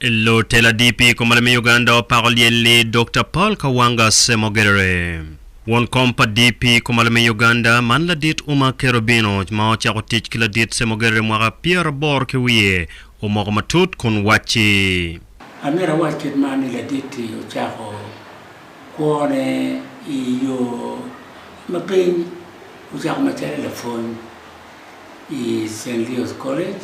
Lutela DP i kom malim me Uganda opako lyel-li Dokta Paul Kawanga Ssemogerere. Won kom pa DP i kom malim me Uganda, man Ladit Umar Kerubino ma ocako tic ki Ladit Ssemogerere mwaka pyeraboro ki wiye, omoko matut kun wacci. Amito awac kit man ni Ladit-ti ocako kwone i yo ma piny. Ocako macalo lapwony i Saint Leo's College.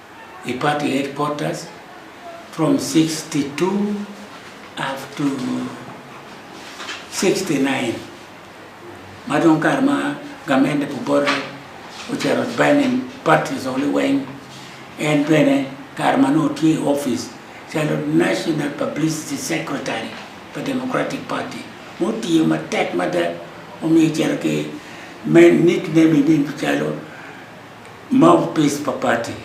i party headquarters from sixty two up to sixty nine ma dong kare ma gamente pu bote ocito banning parties only weng en bene kare ma nongo otye i office calo national publicity secretary pa democratic party ma otiyo matek mada omiyo ocito ki nickname calo Mouthpiece pa party,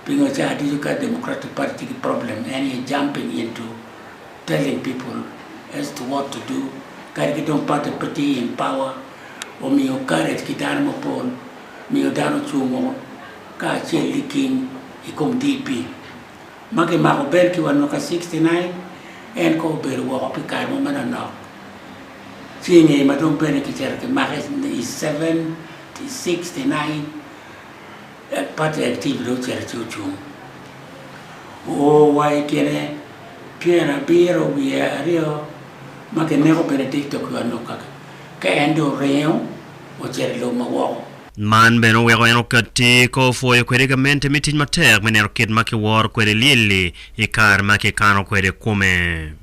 pingo caa ducu ka Democratic party tye ki problem en aye jumping into telling people as to what to do kadi ki dong party pe tye in power omiyo courage ki dano mapol miyo dano cung o ka acel liking i kom DP ma ki mako belt ki wa mwaka 69 en kong obedo woko pi kare mo manonok ci inge ma dong bene ki cito ki make i 7 I 69, Apartheid Team dong ocito ci ocung. Oo wa i tyene pyera abiro wiye aryo ma kineko Benedicto ki Wanuka, ka en dong oringo ocito i lobo ma woko. Man bene oweko en okatti ka opwoyo kwede gamente me tic matek me neno kit ma kiworo kwede lyel-li i kare ma kikano kwede kome.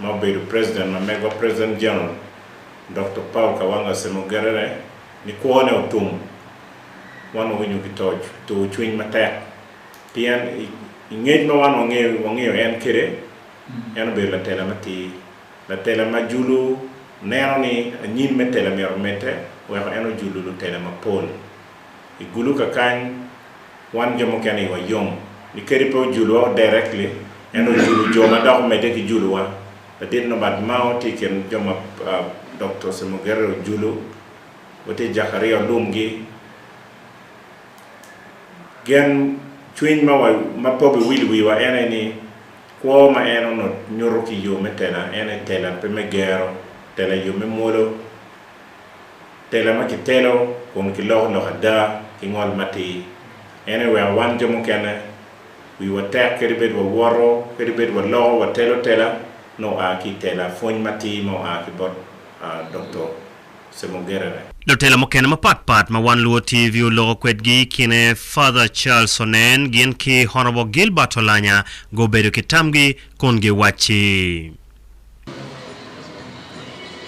ma obedo President ma megwa President General Doktor Paul Kawanga Semogerere ni kwone otum. Wan wawinyo ki tur cwiny matek pien i ngec ma wan wangeyo en kwede, en obedo latela matir, latela ma julu neno ni anyim me tela myero omedde weko en ojulu lutela mapol. I gulu kakany, wan jo mukene iwa yom ni kadi pe ojuluwa o directly, en ojulu jo ma dok omedde ki juluwa. Ladit Norbert Mao tye i kin jo ma Doktor Semogere ojulu, wa tye Jakaria Olumgi. Gen cwiny ma pok iwilo wiwa en aye ni kwo ma en onut nyuto ki yo me tela en aye tela pe me gero, tela yo me mwolo. Tela ma kitelo kun kiloko lok ada ki ngol matir en aye weko wan jo mukene wiwa tek kadi bed wawoto kadi bed waloko watelo tela nongo oa ki i tela pwony matir ma oa ki bot Dokto Semogerere. Lutela mukene mapat pat ma Wan Luo TV oloko kwedgi i kine Father Charles Onen gin ki Honourable Gilbert Olanya gubedo ki tamgi kun giwacci.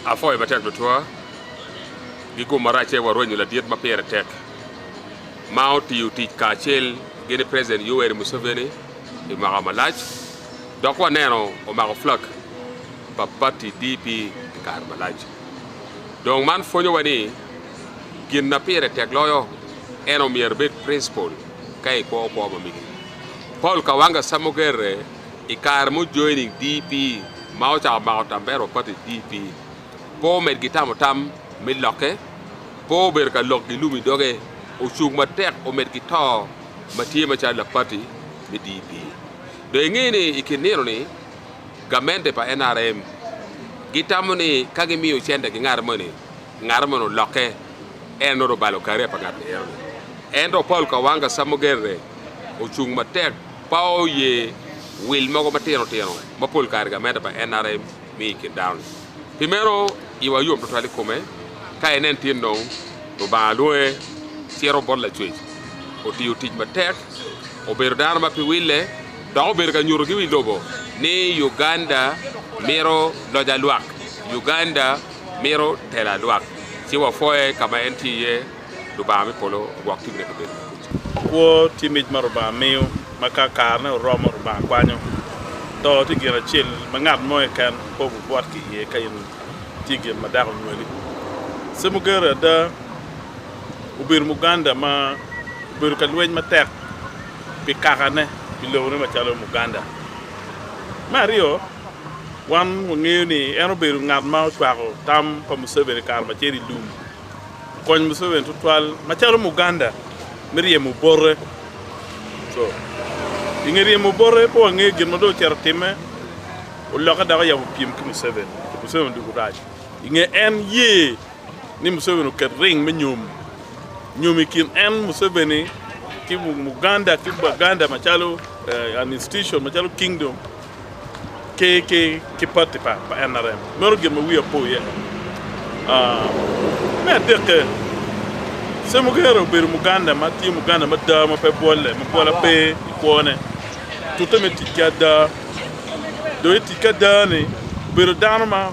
Apwoyo matek tutwa gi gum maracce wa rwenyo ladit ma pire tek ma otiyo tic kacel gi ni President Yoweri Museveni pi mwaka malac dok wa neno omako flag pa party DP pi kare malac. Dong man pwonyo wa ni gin na pire tek loyo en omyero ibed principle ka ikwo kwo ma migi. Paul Kawanga Samogerre. i kare ma ojoining DP ma ocako mako tambera wa pati DP, pe omed ki tamo tam me lokke, pe obedo ka lok gi lum i doge, ocung matek omed ki to ma tye macalo lak pati me DP. Dong inge ni i kin nino ni, gamente pa nrm gi tamo ni ka gi miyo cente ki ngato moni, ngato moni olokke en nongo obalo career pa ngat ni eno ni. Ento Paul Kawanga Samogerere ocung matek, Pe oye wil mogo matino tino ma pol kare gamenda pa NRM miyo i kin dano-ni. Pi meno, iwa yom twatwal i kome ka inen tin dong Lubanga lwonge cito bot Lacwec, otiyo tic matek, obedo dano ma pe wille, dok obedo ka nyuto ki wi lobo ni Uganda mito loc a lwak, Uganda mito telo a lwak. Ci wapwoye ka ma en tye iye. Lubanga me polo ogwok timine pi bedo makuca. Kwo tye mic ma Lubanga miyo ma ka karene oromo Lubanga kwanyo. To tye gin acel ma ngat mo keken pe obibwot ki iye ka in tye gin ma dako onywali. Semugeru ada obedo Muganda ma obedo ka lweny matek pi kakane, pi lobone macalo Muganda. Me aryo, wan wangeyo ni en obedo ngat ma ocwako tam pa Museveni kare macel i lum. okony Museveni tutwal macalo Muganda me ryemo obote. Co. I nge ryemo obote, pe wangeyo gin ma dong ocito otimme, olokke dok oyabo pyem ki Museveni. Museveni odwogo rac i nge en ye ni Museveni oket ring me nyom nyom i kin en, Museveni, ki Muganda ki Baganda macalo an institution, macalo kingdom. ki ki pati pa NRM. Meno gin ma wiya po iye. Me adekke, Ssemugera obedo Muganda ma tye Muganda mada ma pe bwolle, ma bwola pe i kwone. Tute me tic ki ada. Dong i tic ki ada-ni, obedo dano ma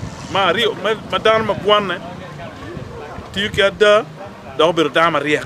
aryo, ma dano ma gwanne, tiyo ki ada, dok obedo dano maryek.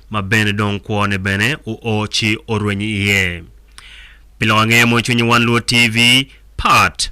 ma bene dong kwone bene oo ci orwenyo iye. Pi lok angeya mono cwinyi wan lwod TV, Part.